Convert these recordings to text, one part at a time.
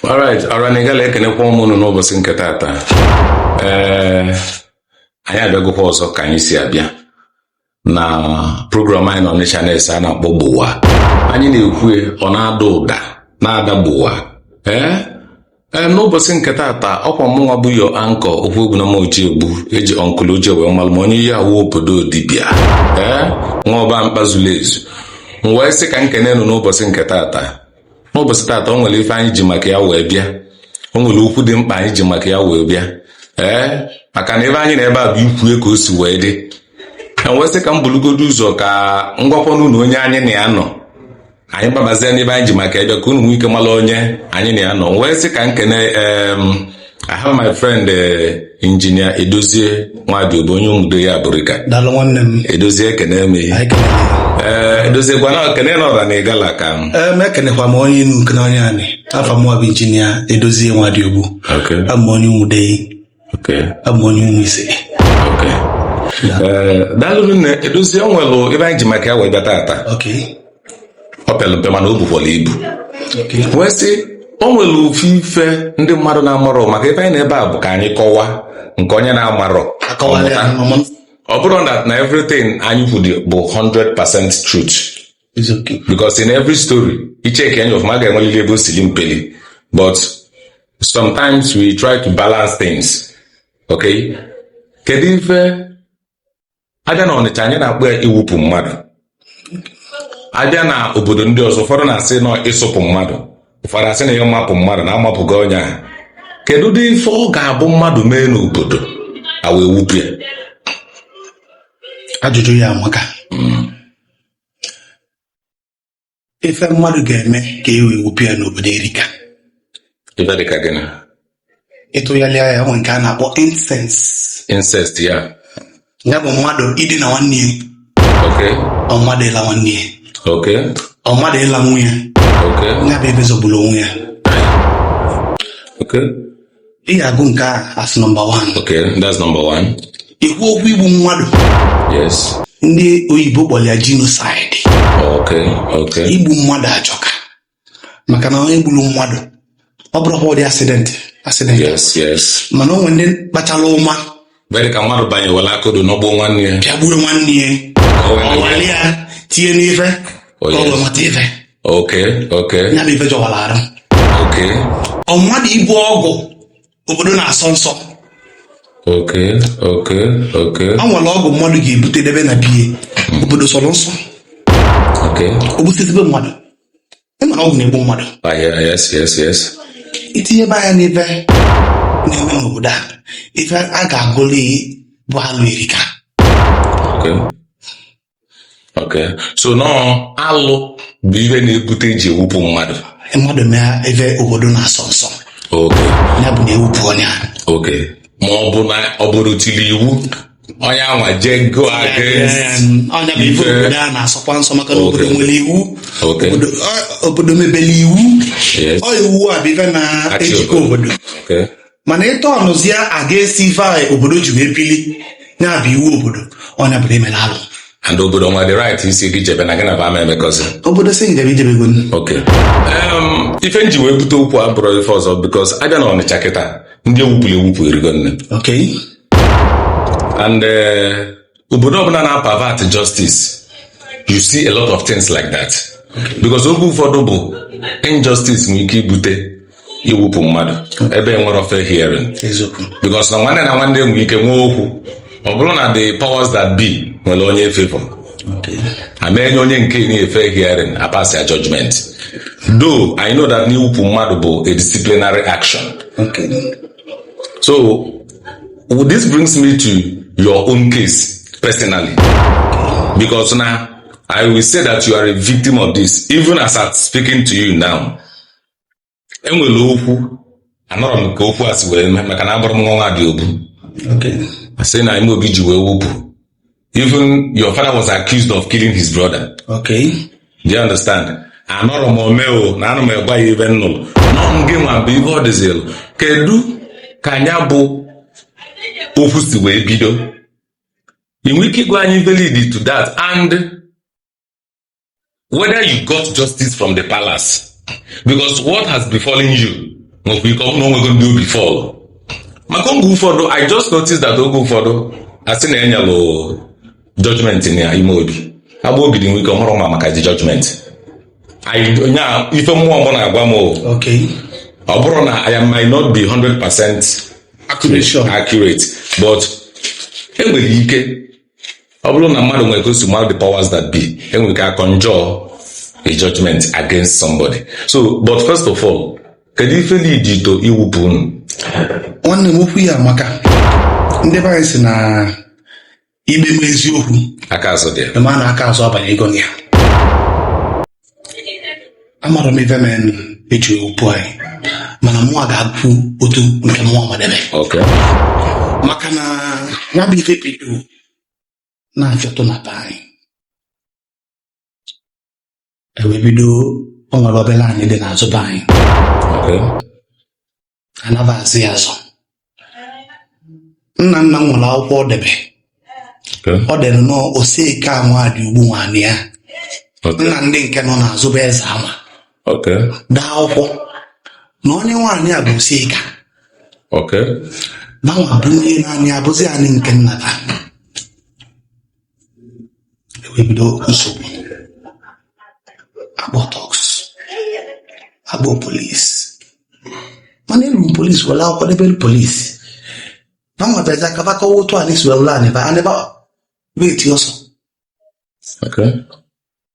alright ọra na ịgala ekenekwa mụ unu n'ụbọsị nke taata ee anyị abịagokwa ọzọ ka anyị si abịa na program anyị nọ n'ọnịcha na-ese a na-akpọ gbowa anyị na-ekwu ọ na-ada ụda na-ada gbowa ee ee n'ụbọsị nke taata ọkwa mụnwa bụ your anchor Okwuegbunam Ojiegbu eji uncle Oji wee malụ m onye Iyiawụ obodo dibịa ee nwa ọba mkpazulu ezu m wee sị ka m kene unu n'ụbọsị nke taata n'ụbọsị taata o nwere ife anyị ji maka ya wee bịa o nwere okwu dị mkpa anyị ji maka ya wee bịa ee maka na ife anyị nọ ebe a bụ ikwue ka o si wee dị m wee sị ka m bulugodo ụzọ ka m gwakwanụ unu onye anyị na ya nọ anyị gbabazie n'ife anyị ji maka ya bịa ka unu nwee ike mara onye anyị na ya nọ wee sị ka m kene em I have my friend eh, injinia Edozie Nwadịogbu onye ụmụdei abụrịka daalụ nwanne m Edozie ekene m ihe anyị kelere ee Edozie ngwanụ kene ọra na ịgala ka m ee m ekenekwa m onye enu kene onye anị afa mụwa bụ injinia edozie nwadịogbu Okay, abụ m onye ụmụdei okay, abụ m onye ụmụ ise okay. Ee, daalụ rinne Edozie o nwelu ife anyị ji maka ya wee bịa tata ok o pelu mpe mana o bukwara ibu wee sị o nwere ofu ife ndị mmadụ na-amarọ maka ife anyị nọ ebe a bụ ka anyị kọwa nke onye na-amarọ a kọwalụ ya, ọ mụta. ọ mụta. ọ bụrọ na na everything anyị kwuru bụ 100% truth It's okay. because in every story i cheke anya ọfụma a ga-enwelili ebe o si li mpeli but sometimes we try to balance things okay kedu ife abịa na ọnịcha anyị na-akpọ ya iwupụ mmadụ abịa na obodo ndị ọzọ ụfọdụ na-asị na ịsụpụ mmadụ ụfọdụ asị na ịmapụ mmadụ na amapụgo onye ahụ kedu ụdị ife ọ ga-abụ mmadụ mee n'obodo e wee wupụ ya ajụjụ ya amaka ife mmadụ ga-eme ka e wee wupụ ya n'obodo erika ife dị ka gịnị ịtụgharịa ya nwere nke a na-akpọ incest incest ya ya bụ mmadụ idina nwanne ya ok or mmadụ ịla nwanne ya ok or mmadụ ịla nwunye ok ya bụ ebe zọgburu onwe ya ok ị ga-agụ nke a as number one Okay, that's number one. ikwu okwu igbu mmadụ Yes. ndị oyibo kpọrọ ya genocide Okay, okay. igbu mmadụ ajọka maka na onye gburu mmadụ ọ bụrụkwa ụdị accident accident Yes, yes. mana o nwere ndị kpachara ụma mere ka mmadụ banyewela akodo n'ọgbọ nwanne ya pịagbuo nwanne ya o weli ya tinye n'ife ọgwụ mata ife okay okay ya bụ ife jọwara arụ okay or mmadụ ibu ọgwụ obodo na-asọ nsọ okay okay okay ọ nwere ọgwụ mmadụ ga-ebute debe na be ya obodo sọrọ nsọ okay o gbusibe mmadụ ịmara ọgwụ na-egbu mmadụ ah, itinyebe anya n'ife na-eme n'obodo a ife a ga-agụli bụ alụ erika so now alụ bụ ihe na-ebute eji ewupụ mmadụ mmadụ mee ife obodo na-asọ nsọ ya bụ na ewupụ onye a ma ọ bụ na obodo tili iwu onye anwa jee go against nya bụ ife obodo a na-asọkwa nsọ maka na obodo nwere iwu obodo mebere iwu ọ iwu a bụ ife na-ejikọ obodo mana ịtọ ọnụzie a ga-esi ife a obodo ji wee bili ya bụ iwu obodo onye bụrụ emere alụ and obodo nwe the right ịsị gị jebe na gị na ba ama emekọzi obodo sị njebe ijebego ok ife nji wee bute okwu abụrọ ife ọzọ because abịa na ọnịcha kịta ndị ewupụrụ ewupụ erigo nne and eh, obodo ọbụla na-apervert justice you see a lot of things like that because oge ụfọdụ bụ injustice nwere ike ibute iwupụ mmadụ ebe enwerọ fair hearing eziokwu because na nwanne na nwanne nwere ike nwee okwu ọ bụrụ na the powers that be nwere onye favor okay ama enye onye nke na fair hearing apass ya judgment though i know that iwupụ mmadụ bụ a disciplinary action okay so this brings me to your own case personally because now i will say that you are a victim of this even as i'm speaking to you now enwere okwu anọrọ m ka okwu a si wee mee maka na abụrọ m nwa nwa dị obu Okay. asị na ime obi ji wee wupụ even your father was accused of killing his brother okay do you understand anọrọ m o mee o na ana m agwa gị ife nnụrụ now gị nwa bụ ihe ọ dịzịlụ kedu ka nya bụ okwu si wee bido ị nwere ike ịgwa anyị ife lead to that and whether you got justice from the palace because what has befallen you nwekwa ike ọ bụ na onwego ndị ọ befall maka oge ụfọdụ i just noticed that oge ụfọdụ asị na enyelụ judgment na ime obi Agbogidi nwe ike ọ marọ ma maka the judgment I- onye a ife mmụọ mụ na-agwa m o, Okay. ọ bụrụ na i am- might not be 100 percent Accurate, sure. accurate but enwere ike ọ bụrụ na mmadụ nwere ka o si mara the powers that be enwere ike aconjure a judgment against somebody so but first of all kedu ife lead to iwupụ unu nwanne m okwu ya amaka ndị be anyị sị na ikpe ma eziokwu aka azụ dị ya ị ma na aka azụ abanyego na ya amara m ife mere nụ eji okwu anyị mana mụnwa ga-ekwu otu nke mụnwa madebe Okay. maka na ya bụ ife bido na-afịọtụ na be anyị ewee bido o nwere obere anị dị n'azụ be anyị Okay. anabazi ya azụ nna nna m nwere akwụkwọ ọ debe ọ dere na Oseka Nwadiogbu nwanne ya nna ndị nke nọ n'azụ bụ eze ama daa akwụkwọ na onye nwe anị a bụ Oseka banwa bụ ihe na anị a abụzi anị nke nna fa wee bido nsogbu akpọ thugs akpọ polisi mana elu polisi were akwụkwọ debere polisi banwa bịazi ka ba kọwa otu anyị si were anị ba anị ba wee ti ọsọ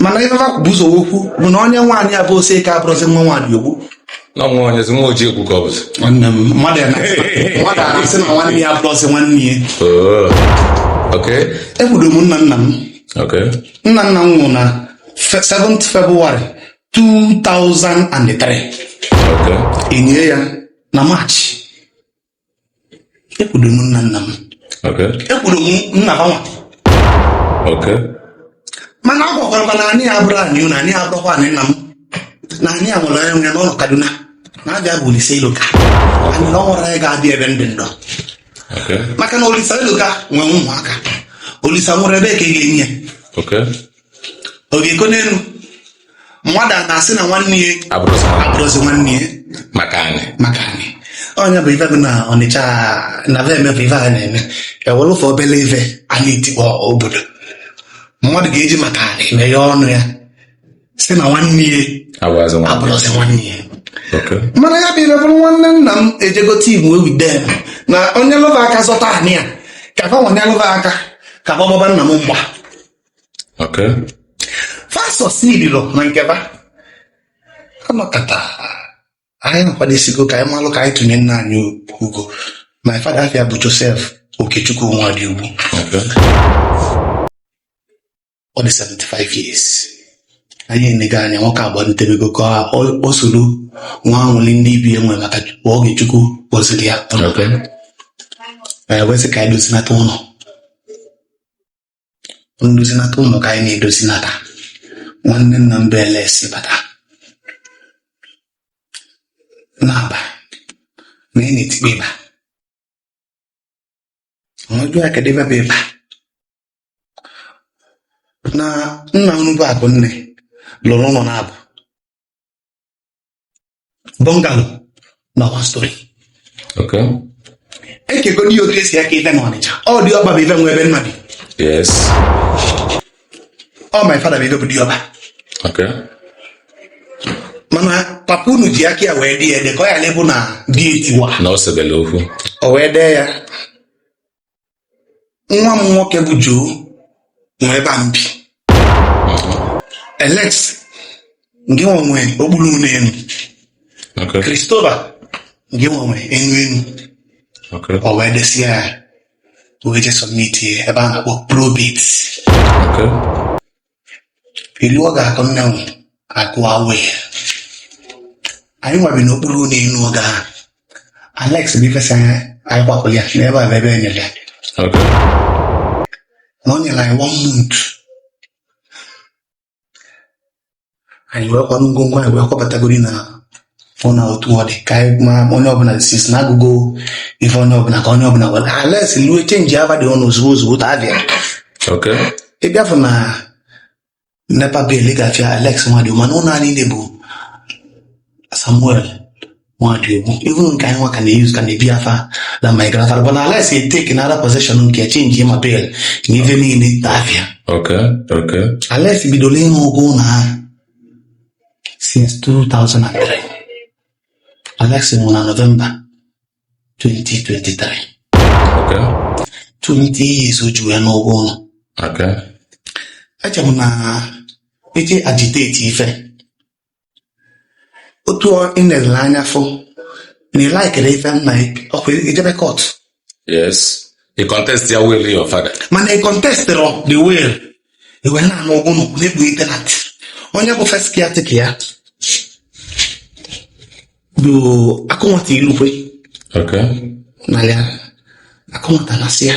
mana ife ha bu ụzọ kwuo bụ na onye nwe anị a bụ Oseka abụrọzi nwa Nwadiogbu na nwa onye nwa Ojiegwu ka ọ bụzi nwanne m mmadụ ya na-asị na nwanne ya abụrọzi nwanne ya ekwudo m nna nna m nna nna m nwụrụ na 7 February 2003 enie ya na March ekwudo m nna nna m ekwudo m nna banwa mana a gwakwara m na anị a abụrọ anị na anị a abụrọkwa anị nna m na anị a nwere onye nọ Kaduna na afa ya bụ Olise Iloka anyị na ọ nwere anyị ga-abịa ebe ndị ndụ maka na Olise Iloka nwere ụmụaka Olise nwere ebe ka ị ga-enye ọ ga-eko n'elu mmadụ a na-asị na nwanne ya abụrọzi nwa abụrọzi nwanne ya maka anị maka anị onye bụ ife bụ na Ọnịcha na be eme bụ ife a na-eme ewere ụfọ obele ife a na-etikpọ obodo mmadụ ga-eji maka anị meghe ọnụ ya sị na nwanne ya abụrọzi nwa abụrọzi nwanne ya Okay. mana ya bụ ife bụrụ nwanne nna m ejegote igbo ewidem na onye lụba aka zọta anị ya ka fanwa nyelụ ba aka ka fa gbaba nna m mgba Okay. Fasos nililo na nke ba anọkata anyị nakwadesigo ka anyị malụ ka anyị tụnye nna anyị ugo my father afa ya bụ Joseph Okechukwu Nwadiogbu Okay. ọ dị 75 years anyị enigo ya nwoke agba ntebego ka ọ ọ soro nwee anwụlị ndị ibe ya nwe maka oge Chukwu gọziri ya Okay. anyị wee sị ka anyị dozinata ụlọ ndozinata ụnọ ka anyị na-edozinata nwanne nna m bụ Alex bata n'eba na ị na-etikpe ịba a jụọ ya kedụ ebe bụ ịba na nna unu bụ Akụnne lụrụ ụlọ naabọ bungalow na one story e kegodi ife otu e si eke ife na Ọnịcha ọ diọkpa bụ ife nwe ebe nna bi ọ my father bụ ife bụ diọkpa mana papa unu ji aka ya wee dee ya ede ka ọ ghalụ ịbụ na dị etiwa na ọ sebele okwu o wee dee ya nwa m nwoke bụ Joe nwe ebe a m bi Alex nke nwe okpuru ụlọ elu Christopher nke nwe enu enu o wee desịa ya wee je sọmiti ebe a na-akpọ probate eluo a ga-akwa nne m akwa awe anyị nwa bi n'okpuru ụlọ elu oge ahụ Alex bụ ife sị anyị anyị kwapụrụ ya n'ebe a bụ ebe e nyere ya Okay. na ọ nyere anyị one month anyị wee kwanụ ngwongwo anyị wee kwabatago na fụ na otu ọ dị ka anyị mara ma onye ọbụla si si na a gụgo ife onye ọbụla ka onye ọbụla were Alex lue chenji afa dị ọnụ ozugbo ozugbo ta abịa Okay. ị bịa fụ na NEPA bill ị ga-afụ Alex Nwadiogbu mana ụlọ anyị niile bụ Samuel Nwadiogbu even nke anyị nwa ka na-eyuz ka na-ebi afa na my grandfather but Alex eteki na ara possession nke chenji ma bill na ife niile ta abịa Okay. Okay. Alex bidoro ịna ụgwọ ụlọ ahụ since 2003 Alex nwụrụ na November 2023 Okay. 20 years o ji wee na ụgwọ ụlọ Okay. eche m na e ji agiteti ife otu ọ- ị na-elele anya fụ na ị laikere ife nna gị, ọkwa i jebe kọt yes ị contest ya will your father mana ị kọntestirọ the will i wee na-ana ụgwọ ụnọ na-ekpughe tenant onye bụ first caretaker ya bụ Akụnwata Ilukwe okay na ya Akụnwata na-asị ya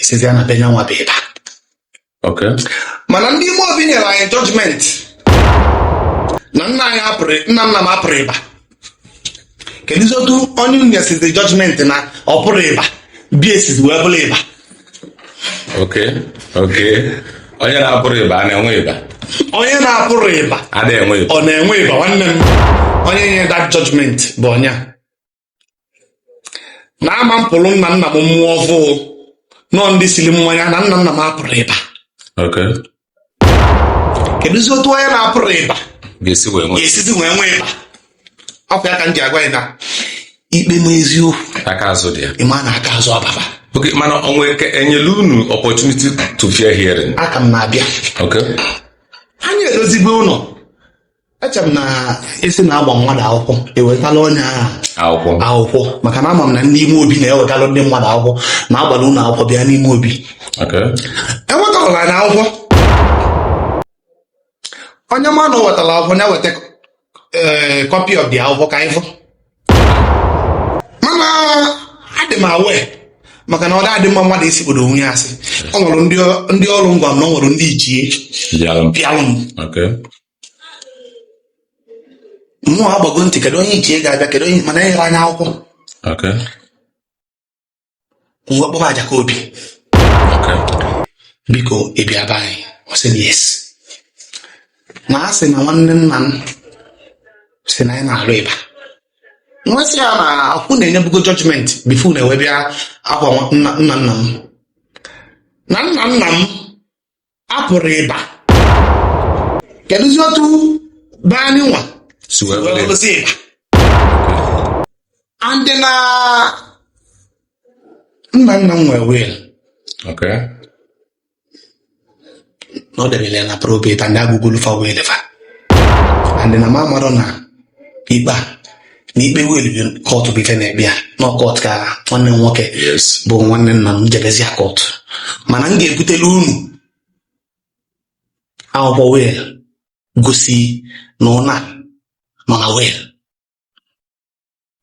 esizi ya na be nyanwa bụ ịba Okay. mana ndị ime obi nyere anyị jọjmenti na nna anyị apụrọ nna nna m apụrọ ịba kedụzi otu onye nyesizi jọjmenti na ọ pụrọ ịba be ya esizi wee bụrụ ịba Okay. Okay. Onye na-apụrọ ịba a na-enwe ịba. onye na-apụrọ ịba ada enwe ịba. ọ na-enwe ịba nwanne m onye nye that jọjmenti bụ onye a na ama m pụrụ nna nna m mmụọ ọfụụ nọ ndị siri mmanya na nna nna m apụrọ iba kedụzi otu onye na-apụrọ iba ga-esizi wee nwee iba ọkwa ya ka m ji agwa ya na ikpe m eziokwu aka azụ dị ya ị ma na aka azụ ọ baba okay mana onwe enyela unu opportunity to fair hearing aka m na-abịa anyị edozibe ụlọ eche m na a sị na a gba mmadụ akwụkwọ ewetala onye ahụ akwụkwọ akwụkwọ maka na ama m na ndị ime obi na-ewetala ndị mmadụ akwụkwọ na a gbara unu akwụkwọ bịa n'ime obi okay ewetala na akwụkwọ onye ma na o wetara akwụkwọ ya weta ee copy of the akwụkwọ ka anyị fụ mana adị m aware maka na ọ dị mma mmadụ isikpodo onwe ya asị ọ nwere ndị ndị ọrụ ngwa na ọ nwere ndị ichie ndị alụ bịalụ m okay mmụọ agbago ntị kedu onye ichie ga-abịa kedu onye mana enyerọ anyị akwụkwọ Okay. m wee kpọba Ajakobi Okay. biko ị bịa be anyị ọ sị m yes na a sị na nwanne nna m si na anyị na-arụ iba m wee sị ya na ọkwa unu enyebugo judgment before unu ewee bịa akwa nwa- nna nna nna m na nna nna m apụrọ iba kedụzi otu be anyị nwa si wee bụrụzi iba and na nna nna m nwee will na ọ debere ya na probate and a gụgolu fa will fa and na m amarọ na ikpe a na ikpe will bụ court bụ ife na-ekpe ya na ọ court ka nwanne m nwoke yes bụ nwanne nna m jebezịa court mana m ga-ebutelu unu akwụkwọ will gosi na ụnọ a nọ na will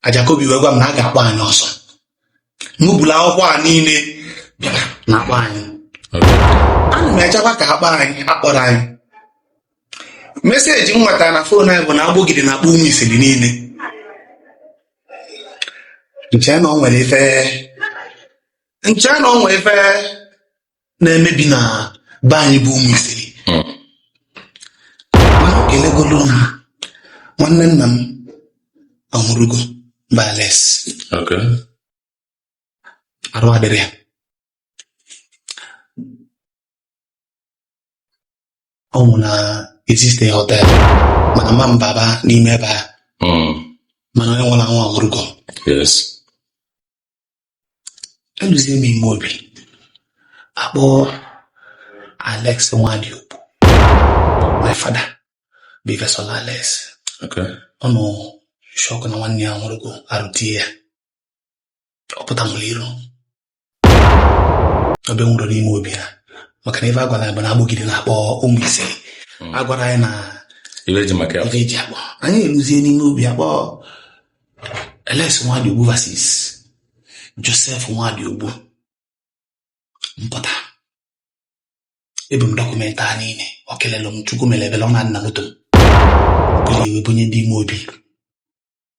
Ajakobi wee gwa m na a ga-akpọ anyị ọ sị m bulu akwụkwọ a niile bịara na akpọ anyị ana m echekwa ka a kpọọ anyị akpọrọ anyị message m nwetara na phone anyị bụ na Agbogidi na-akpọ ụmụ isiri niile m chee na o nwere ife m chee na o nwere ife na-emebi na be anyị bụ ụmụ isiri mana o kelegolu na nwanne nna m ọhụrụgo bụ Alex Okay. arụ adịrọ ya ọ nwụ na existe hotel mana ma m baba n'ime ebe a Mm. mana onye nwụrụ anwụ anwụrụgo Yes. eluzie m ime obi akpọ alex nwadiogbu my father bụ first son alex Okay. ọ nọ shock na nwanne ya nwụrụgo arụ tie ya ọ pụta nwụrụ iru obi ọ nwụrọ n'ime obi ha maka na ife a gwara anyị bụ na agbụgide na-akpọ ụmụ ise a gwara anyị na ife eji maka ya ife eji akpọ anyị eluzie n'ime obi akpọ alex nwadiogbu versus joseph nwadiogbu m pụta ebu m document a niile ọ kelelụ m chukwu mere ebele ọ nọ na moto m buru ya wee bunye ndị ime obi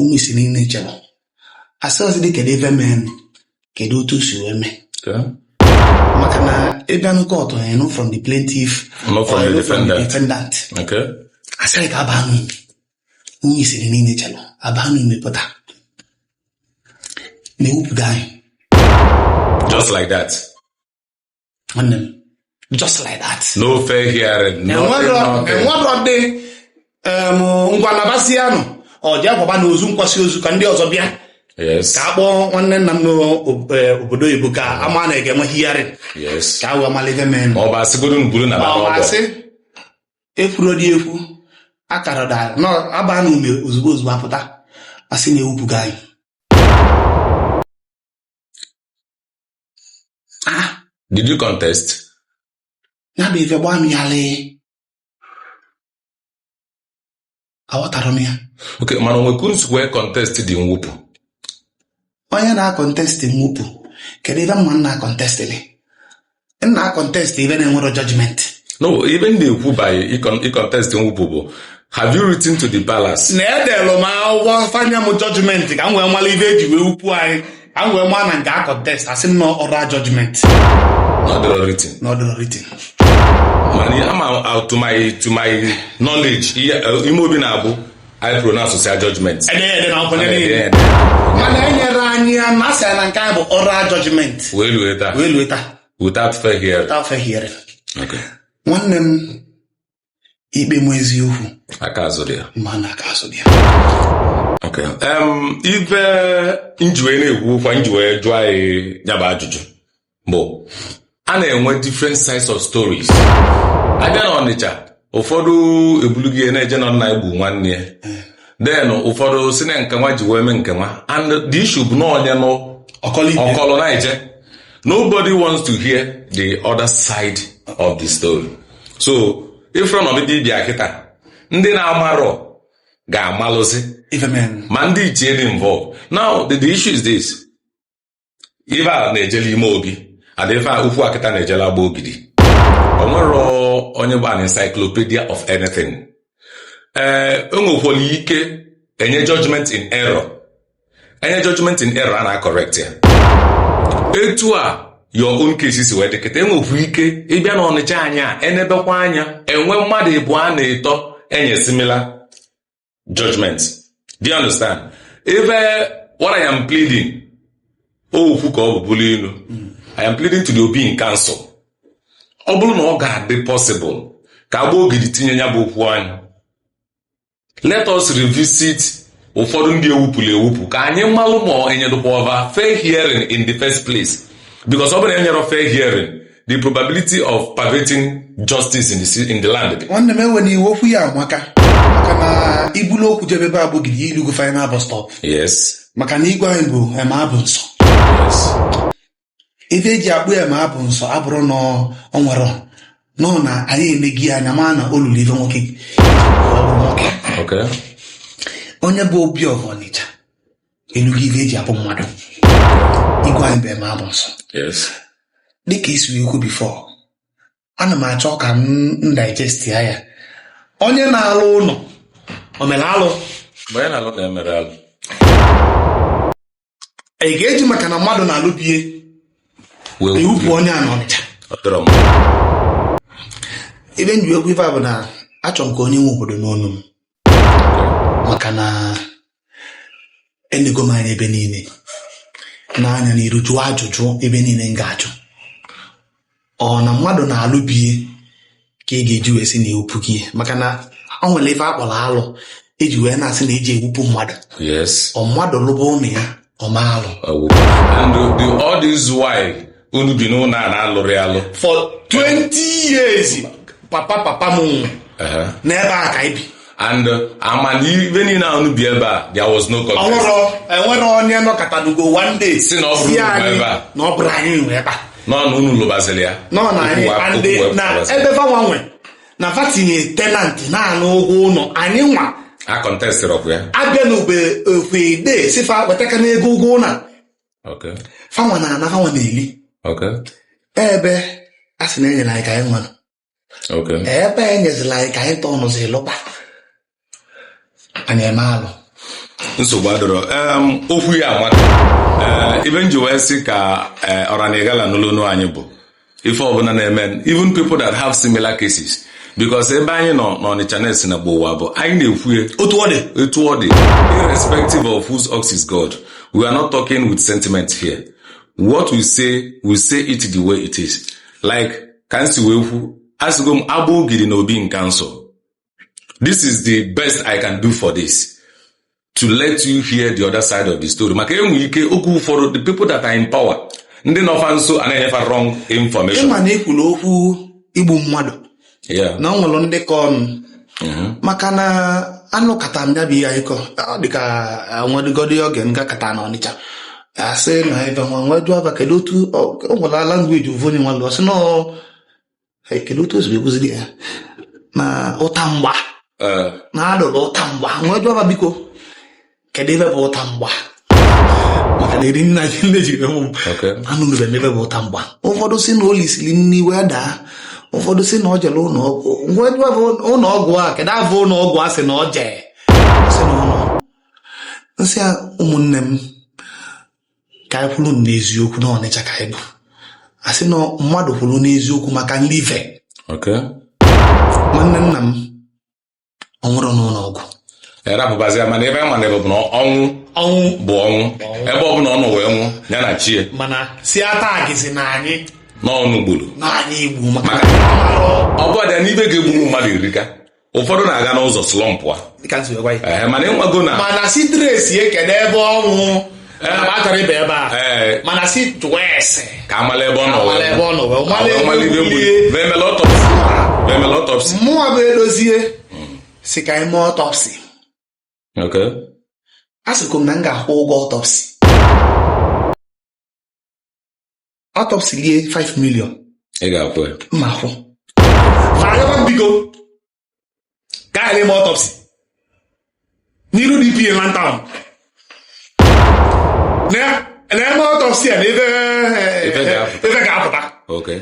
ụmụ isi niile chọrọ asịrọ dị kedu ife mee kedu otu o si wee mee maka na ị bịa na court a nụ from the plaintiff nụ from the defendant asị anyị ka abaa n'ume ụmụ isi niile chọrọ abaa n'ume pụta na ewupụgo anyị just like that nwanne m just like that no fair hearing nothing nothing enwerọ dị em, ngwa nabasianụ jee kwabanụ ozu a kwasịa ozu ka ndị ọzọ bịa yes ka a kpọọ nwanne nna m n'obodo oyibo ka ama na a ga-enwe hearing yes ka a wee malụ ife mee ma ọ bụ asịgodo m buru na ba n'ọgbọ ọmasị ekwurọ dị ekwu akara dara na aba n'ume ozugbo ozugbo apụta asị na ewupụgo anyị ah did you contest ya bụ ife gbaa m ghalịị aghọtarọ m ya okay mana o nwe ka unu si contest the nwupụ onye na-akọntest nwupụ kedu ife m ga na-akọntestịlị m na-akọntest ife na-enwerọ judgment no ife m na-ekwu by ịkọntest nwupụ bụ have you written to the palace na edelụ m akwụkwọ fa nye m judgment ka m wee mara ife eji wee wupụ anyị a wee maa na m ga-akọntest asị m na oral judgment na ọ dịrọ written na ọ dịrọ written mana ama to my to my knowledge uh, ime obi na-abụ ị pronouncesịa judgment mana enyerọ anyị ya na asị na nke anyị bụ oral judgment wee lue taa wee lue taa without fair hearing without fair hearing nwanne m ikpe m eziokwu aka azụ dị ya ma na aka azụ dị ya Okay. Um, ife m ji wee na-ekwu okwu m ji wee jụọ gị ya bụ ajụjụ bụ a na-enwe different sides of stories abịa na ọnịcha ụfọdụ ebulu ya na-eje na nna egbu nwanne ya then ụfọdụ si na nke nwa ji wee mee nke nwa and the issue bụ na onye nụ ọ kọlụ ife ọ kọlụ na-eje nobody wants to hear the other side of the story so ị fụrọ na ọdịdị ịbịa kịta ndị na-amarọ ga-amalụzi ife mee ma ndị ichie dị involved now the, the issue is this ife a na-ejela ime obi adị ife ukwu akịta na-ejela Agbogidi o nwerọ onye bụ an encyclopedia of anything ee enwekwala ike enye judgment in error enye judgment in error a na correct ya etu a your own case si wee dị kịta enwekwa ike ịbịa na ọnịcha anyị a enebekwa anya enwe mmadụ ịbụa na ịtọ enye similar judgment do you understand ife what I am pleading okwu ka ọ bụ bụlụ inu I am pleading to the Obi in council ọ bụrụ na ọ ga-adị possible ka Agbogidi tinye nya bụ okwu anya let us revisit ụfọdụ ndị ewupụlụ ewupụ ka anyị malụ ma enyedụkwa fa fair hearing in the first place because ọ bụrụ na enyerọ fair hearing the probability of perverting justice in the, ci- in the land dị. nwanne m enwena iwe okwu ya amaka maka na i bulu okwu jebe ebe Agbogidi i lugo final bus stop yes maka na igwe anyị bụ eme abụ nsọ yes ife eji akpọ ya eme abụ nsọ abụrọ na ọ nwere nọ na anyị emegi ya anya mana o lulu ife nwoke onye bụ obi of ọnịcha elugo ife eji abụ mmadụ igwe anyị bụ eme abụ nsọ dịka i si ekwu before ana m achọ ka m digest ya ya onye na-alụ ụnọ o mere alụ onye na-alụ ụnọ emerọ alụ e ga-eji maka na mmadụ na-alụ be ya wee ewupụ onye a n'ọnịcha ọ dọrọ m ife m ji ekwu ife a bụ na achọ m ka onye nwe obodo nụ ọnụ m maka na enego m anya ebe niile nee anya n'iru jụọ ajụjụ ebe niile m ga-ajụ ọ na mmadụ na-alụ be ya ka e ga-eji wee sị na ewupụ gị maka na ọ nwere ife akpọrọ alụ eji wee na-asị na eji ewupụ mmadụ ọ mmadụ lụba ụnọ ya o mee alụ unu bi n'ụnọ a na-alụrị alụ for 20 years papa papa m n'ebe a ka anyị bi and mana mgbe niile ahụ unu bi ebe a there was no contest ọhụrụ enwerọ onye nọkatanugo one day sị na ọ bụrọ si unu anyị ebe a. na ọ bụrọ anyị nwe ebe a nọ na unu lụbaziri ya nọ na anyị Okwu wa- and okwu wee na pụtara. ebe fanwa nwe na fa tinye tenant na-ana ụgwọ ụnọ anyị nwa acontestịrọkwa ya abịa n'ogbe okwede sị fa wetaka n'ego ụgwọ ụnọ okay fanwa na-ana fanwa na-eli okay ebe a sị na enyere anyị ka anyị nwa nọ ebe enyezila anyị ka anyị tọọ nụzi lụba anyị eme alụ nsogbu adịrọ okwu ya amaka eh, ife m ji wee sị ka eh, ọranigala n'olonu anyị bụ ife ọbụla na-eme even people that have similar cases because ebe anyị nọ n'Ọnịcha na-esi na gbowa bụ anyị na-ekwue otu ọ dị otu ọ dị irrespective of whose ox is gored we are not talking with sentiment here what we say we say it the way it is like ka m si wee kwu asịgo m Agbogidi na Obi in Council this is the best i can do for this to let you hear the other side of the story maka enwe ike oge ụfọdụ the people that are in power ndị nọ fa nso ana-enye fa wrong information ịma na e kwuru okwu igbu mmadụ yeah. na ọ nwere ndị ka ọnụ Mhm. maka na anụkata m ya bụ akịkọ ọ dịka nwedịgodi oge m gakata na Ọnịcha a sị na ebe nwa m wee jụọ fa kedu otu ọ ọ nwere language ofu onye nwa lụọ sị na ọ "Hey, kedu otu o siri ekwuziri ya na ụta mgba Ee, na a dụrụ ụta mgba m wee jụọ fa biko kedu ife bụ ụta mgba maka na eri nna gị nne jiri mụ m okay. anụnụrọ m ife bụ ụta mgba ụfọdụ si na o lisiri nri wee daa ụfọdụ si na ọ jere ụlọ ọgwụ m wee jụọ fa ụlọ ọgwụ a kedu afa ụlọ ọgwụ a sị na ọ jee m sị ya ụmụnne m ka anyị kwụrụ n'eziokwu na Ọnịcha ka anyị bụ asị na mmadụ kwụrụ n'eziokwu maka nri ife Okay. nwanne nna m ọ nwụrụ n'ụlọ ọgwụ A rapụbazia mana ebe a mana ebe bụ na ọnwụ ọnwụ bụ ọnwụ ebe ọ bụla ọ nọ wee nwụ ya na chi e mana si ata agịzi na anyị n'ọnụ gburu na anyị igbu maka maka ọ bụ ọrịa n'ife ga-egbu mmadụ erika ụfọdụ na-aga n'ụzọ slumpụa dịka m si gwa ya Ee, mana ịnwago na mana si trace-ie kene ebe ọ nwụ na m achọrọ ịba ebe a Ee. mana si jụwa ese ka a mala ebe ọ nọ wee Amala ebe ọ nọ wee nwụ. mala ebe Amala ife gbuli. gbuli. Wee mela autopsy. Wee mela autopsy. mụwa bụ Edozie si ka anyị mee autopsy Okay. a sịkwa m na m ga-akwụ ụgwọ autopsy autopsy lie 5 million ị ga-akwụ ya mma kwụ agaba m biko ka anyị mee autopsy n'iru DPO Inland Town na-eme autopsy a na ife Ife ga-apụta. ife ga-apụta okay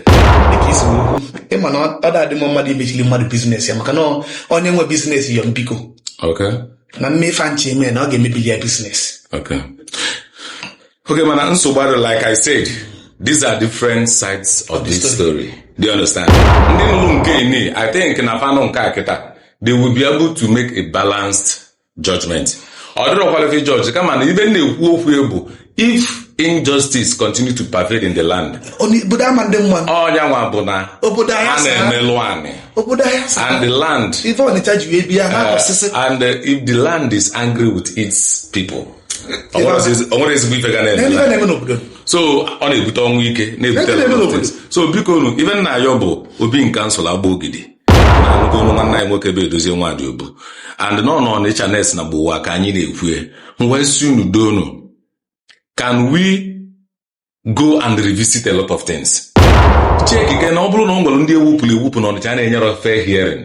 dịka i si wee kwuo, ị ma na ọ ọ da-adị mma mmadụ imechili mmadụ business ya maka na ọ- onye nwe business yọ m biko okay na m mee ife m chọ eme na ọ ga-emebili ya business okay Okay, mana nsogbu adị like I said, these are different sides of this story. Do you understand? Ndị nụrụ nke ini, I think na fa nụ nke a kịta, they will be able to make a balanced judgment. Ọ dịrọkwala ife judge kama na ife m na-ekwu okwu ya bụ if injustice continue to pervade in the land, Onye- obodo ama-adị mma ọ ya nwa bụ na obodo a ahịa saa na-emelụ anị obodo ahịa saa and the land ife Ọnịcha ji wee bịa ha uh, ọsịsị and uh, if the land is angry with its people O nwerọ ezi- o nwerọ ezigbo ife ga na-eme Ihe na- na-eme n'obodo so ọ na-ebute ọnwụ ike na-ebute Ife na-eme n'obodo. ọtụtụ. so bikonu ife m na-ayọ bụ Obi in Council Agbogidi na nnukwu nwanne anyị nwoke bụ Edozie Nwadiogbu and nọ nọ n'Ọnịcha Next na Gbowaa ka anyị na-ekwu wee sị unu doonu can we go and revisit a lot of things check again ọ bụrụ na o nwere ndị ewupụrụ ewupụ na Ọnịcha na-enyerọ fair hearing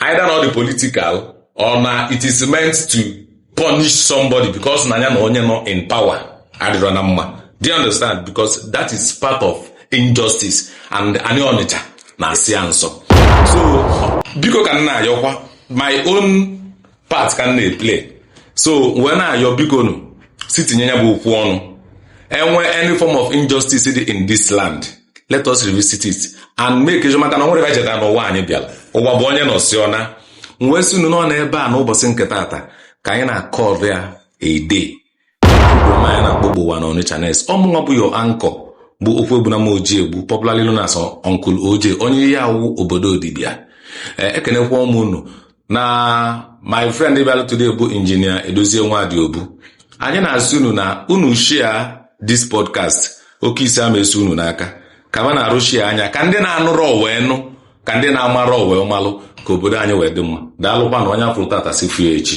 either na ọ dị political or na it is meant to punish somebody because na ya na onye nọ in power adịrọ na mma do you understand because that is part of injustice and anyị Ọnịcha na-asị ya nsọ so biko ka m na-ayọkwa my own part ka m na-eplay so wee na-ayọ bikonu si tinye ya bụ okwu ọnụ enwe any form of injustice dị in this land let us revisit it and make sure maka na o nwere bajeta na ụwa anyị bịara ụwa bụ onye nọsịa ọ naa wee sị unu na ọ n'ebe a n'ụbọchị nke tata ka anyị na-akọrọ ya ede anyị na-akpọ Gbowaa na Onitsha Next ọmụnwa bụ your anchor bụ Okwuegbunam Ojiegbu popularly known as Uncle OJ onye Iyiawu obodo Odibia eh, ekenekwa m unu na my friend bịara today bụ injinia Edozie Nwadiogbu anyị na-asị unu na unu share this podcast oke isi ama esi unu n'aka ka ma na-arụ share ya ka ndị na-anụrọ wee nụ ka ndị na-amarọ wee malụ ka obodo anyị wee dị mma daalụkwa na onye afụrụ tata sị fụ ya echi